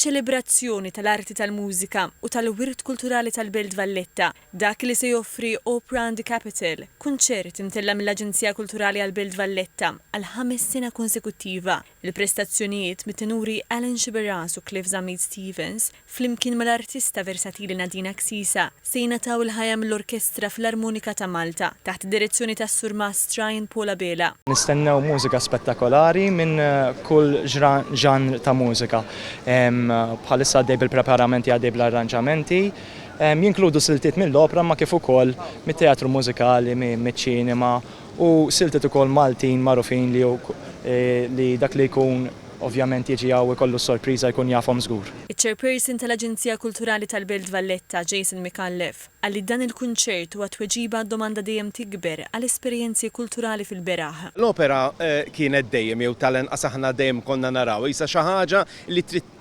ċelebrazzjoni tal-arti tal-mużika u tal-wirt kulturali tal-Belt Valletta, dak li se joffri Opra and Capital, kunċert imtella' mill-Aġenzija Kulturali għall-Belt Valletta għal ħames sena konsekuttiva, il-prestazzjonijiet mit-tenuri Alan Sciberras u Cliff Zammit Stevens, Flimkien mal-artista versatili Nadina Ksisa, se jingħataw il-ħajja mill-Orkestra Filarmonika ta' Malta, taħt id-direzzjoni tas-Surmast Ryan Paul Abela. Nistennew mużika spettakolari minn kull ġanr ta' mużika. Bħalissa għaddej bil-preparamenti għaddej bl-arranġamenti. Jinkludu siltiet mill-opra imma kif ukoll mit-teatru mużikali, miċ-ċinema, u siltiet ukoll Maltin magħrufin li li dak li jkun ovvjament jiġi hawn ikollu s-sorpriża jkun jafhom żgur. Iċ-Chairperson tal-Aġenzija Kulturali tal-Belt Valletta, Jason Micallef, qal li dan il-kunċert huwa tweġiba għad-domanda dejjem tikber għal esperjenzi kulturali fil-beraħ. L-opera kienet dejjem jew tal-anqas aħna dejjem konna narawha qisha xi ħaġa li trid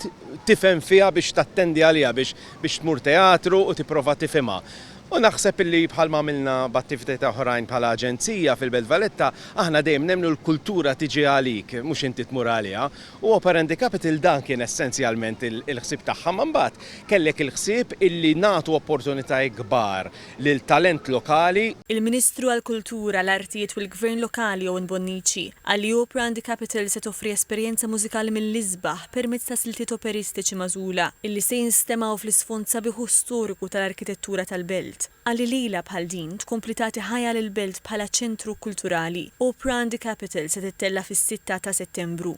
tifhem fiha biex tattendi għaliha biex biex tmur teatru u tipprova tifhimha. U naħseb illi bħalma għamilna b'attivitajiet oħrajn bħala aġenzija fil-Belt Valletta aħna dejjem nemmnu l-kultura tiġi għalik mhux inti tmur għaliha u Operandi Capital dan kien essenzjalment il-ħsieb tagħha imma mbagħad kellek il-ħsieb illi nagħtu opportunitajiet kbar lil talent lokali. Il-Ministru għall-Kultura, l-Artijiet u l-Gvern Lokali Owen Bonnici qal li Opra and Capital se toffri esperjenza mużikali mill-isbaħ permezz ta' siltiet operistiċi magħżula illi se jinstemgħu fl-isfond sabiħ u storiku tal-arkitettura tal-belt. Qal li lejla bħal din tkompli tagħti ħajja lill-belt bħala ċentru kulturali. Opra and Capital se tittella' fis-sitta ta' Settembru.